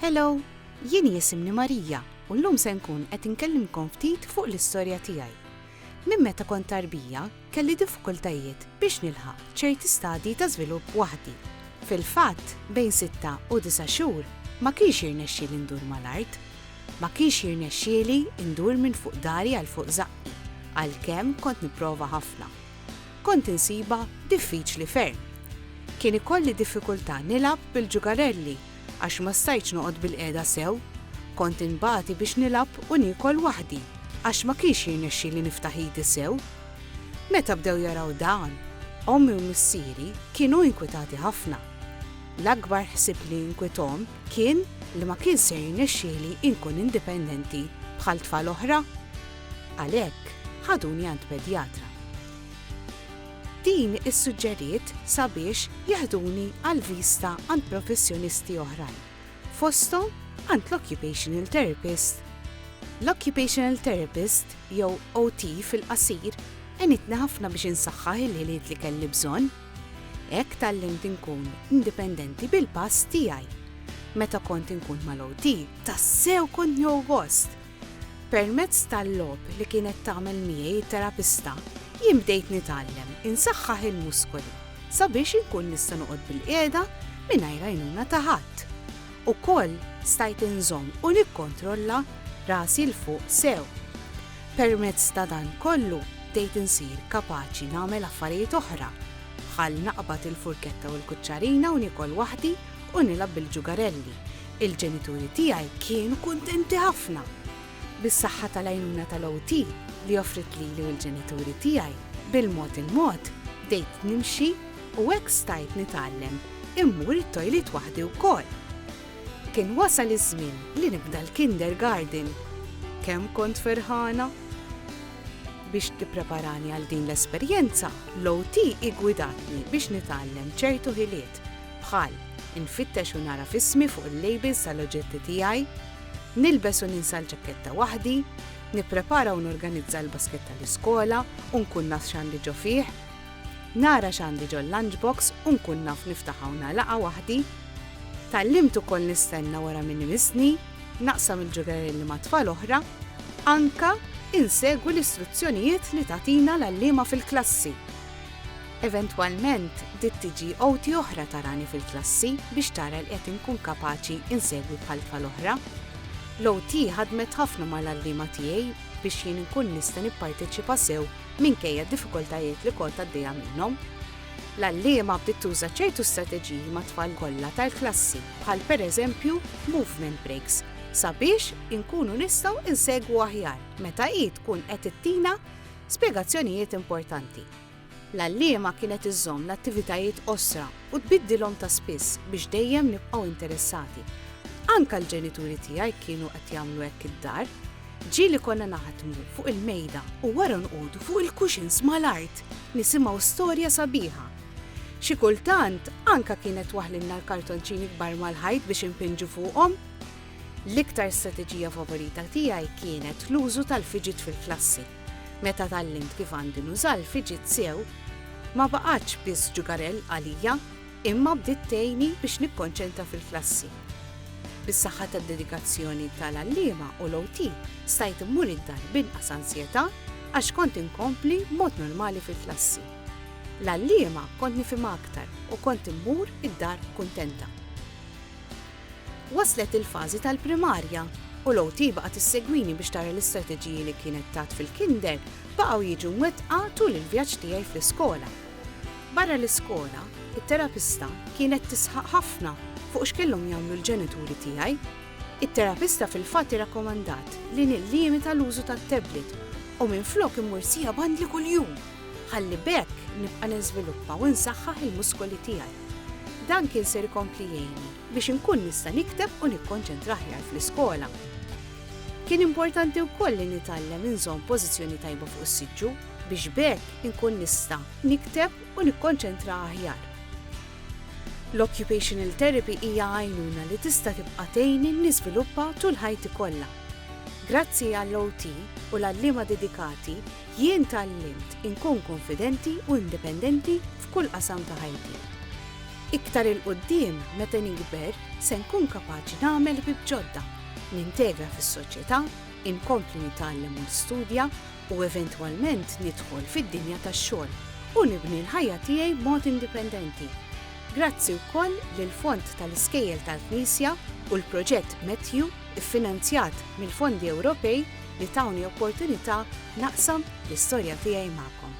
Hello, jien jisimni Marija u llum se nkun qed inkellimkom ftit fuq l-istorja tiegħi. Minn meta kont tarbija, kelli diffikultajiet biex nilħaq ċerti stadji ta' żvilupp waħdi. Fil-fatt, bejn sitta u disa' xhur ma kienx jirnexxieli ndur mal-art. Ma kienx jirnexxieli ndur minn fuq dari għal fuq żaqqi, għalkemm kont nipprova ħafna. Kont insibha diffiċli ferm. Kien ikolli diffikultà nilgħab bil-ġugarelli għax ma stajtx noqgħod bilqiegħda sew. Kont inbati biex nilgħab u niekol waħdi għax ma kienx jirnexxili niftaħ idi sew. Meta bdew jaraw dan, ommi u missieri kienu inkwitati ħafna. L-akbar ħsieb li inkwithom kien li ma kienx se jirnexxieli inkun indipendenti bħal tfal oħra. Għalhekk, ħaduni għand pedjatra. Din issuġġeriet sabiex jeħduni għal viżta għand professjonisti oħrajn, fosthom għand l-occupational therapist. L-occupational therapist, jew OT fil-qasir, għenitni ħafna biex insaħħaħ il-ħiliet li kelli bżonn. Hekk tgħallimt inkun indipendenti bil-pass tiegħi. Meta kont inkun mal-OT, tassew kont nieħu gost! Permezz tal-logħob li kienet tagħmel miegħi t-terapista, jien bdejt nitgħallem insaħħaħ il-muskoli sabiex inkun nista' noqgħod bilqiegħda mingħajr għajnuna ta' ħadd. Ukoll stajt inżomm u nikkontrolla rasi 'l fuq sew. Permezz ta' dan kollu bdejt insir kapaċi nagħmel affarijiet oħra, bħal naqbad il-furketta u l-kuċċarina u niekol waħdi u nilgħab bil-ġugarelli. Il-ġenituri tiegħi kienu kuntenti ħafna. Bis-saħħa tal-għajnuna tal-OT li offriet lili u l-ġenituri tiegħi, bil-mod il-mod bdejt nimxi u hekk stajt nitgħallem immur it-tojlit waħdi wkoll. Kien wasal iż-żmien li nibda l-kindergarten. Kemm kont ferħana! Biex tippreparani għal din l-esperjenza, l-OT hi ggwidatni biex nitgħallem ċertu ħiliet. bħal, infittex u nagħraf ismi fuq il-labels tal-oġġetti tiegħi, nilbes u ninsa l-ġaketta waħdi, nipprepara u norganizza l-basket tal-iskola u nkun naf x'għandi ġo fih, nara x'għandi ġol-lunchbox u nkun naf niftaħha u nagħlaqha waħdi. Tgħallimt ukoll nistenna wara min imissni, naqsam il-ġugarelli ma' tfal oħra, anke insegwi l-istruzzjonijiet li tagħtina l-għalliema fil-klassi. Eventwalment, bdiet tiġi għoti oħra tarani fil-klassi biex tara li qed inkun kapaċi nsegwi bħal-tfa l-oħra. L-OT ħadmet ħafna mal-għalliema tiegħi biex jien inkun nista' nipparteċipa sew minkejja d-diffikultajiet li kont għaddejja minnhom. L-għalliema bdiet tuża ċertu strateġiji mat-tfal kollha tal-klassi, bħal pereżempju movement breaks, sabiex inkunu nistgħu nsegwu aħjar meta hi tkun qed ittina spjegazzjonijiet importanti. L-għalliema kienet iżżomm l-attivitajiet qosra u tbiddilhom ta' spiss biex dejjem nibqgħu interessati. Anke l-ġenituri tiegħi kienu qed jagħmlu hekk id-dar. Ġieli konna naħdmu fuq il-mejda u wara nqogħdu fuq il-kuxins mal-art nisimgħu storja sabiħa. Xi kultant anke kienet waħlilna l-kartonċini kbar mal-ħajt biex inpinġu fuqhom. L-iktar strateġija favorita tiegħi kienet l-użu tal-fidget fil-klassi. Meta tgħallimt kif għandi nuża l-fiġit sew, ma baqgħetx biss ġugarell għalija, imma bdiet tgħinni biex nikkonċentra fil-klassi. Bis-saħħa tad-dedikazzjoni tal-għalliema u l-OT, stajt immur id-dar b'inqas ansjetà għax kont inkompli b'mod normali fil-klassi. L-għalliema kont nifhimha aktar u kont immur id-dar kuntenta. Waslet il-fażi tal-primarja u l-OT baqgħet issegwini biex tara l-istrateġiji li kienet tat fil-Kinder baqgħu jiġu mwettqa tul il-vjaġġ tiegħi fl-iskola. Barra l-iskola, it-terapista kienet tisħaq ħafna fuq x'kellhom jagħmlu l-ġenituri tiegħi. It-terapista fil-fatt irrakkomandat li nillimita l-użu tat-tablet u minflok immur siegħa b'għandli kuljum ħalli b'hekk nibqa' niżviluppa u nsaħħaħ il-muskoli tiegħi. Dan kien ser ikompli jgħinni biex inkun nista' nikteb u nikkonċentra aħjar fl-iskola. Kien importanti wkoll li nitgħallem inżomm pożizzjoni tajba fuq is-siġġu biex b'hekk inkun nista' nikteb u nikkonċentra aħjar. L-occupational therapy hija għajnuna li tista' tibqa' tgħinni niżviluppa tul ħajti kollha. Grazzi għall-OT u l-għalliema dedikati, Jien tgħallimt inkun kunfidenti u indipendenti f'kull qasam ta' ħajti. Iktar 'il quddiem, meta nikber, se nkun kapaċi nagħmel ħbieb ġodda, nintegra fis-soċjetà, inkompli nitgħallem u nistudja, u eventwalment nidħol fid-dinja tax-xogħol u nibni l-ħajja tiegħi b'mod indipendenti. Grazzi wkoll lill-Fond tal-Iskejjel tal-Knisja u l-Proġett Matthew, iffinanzjat mill-fondi Ewropej li tawni opportunità naqsam l-istorja tiegħi magħkom.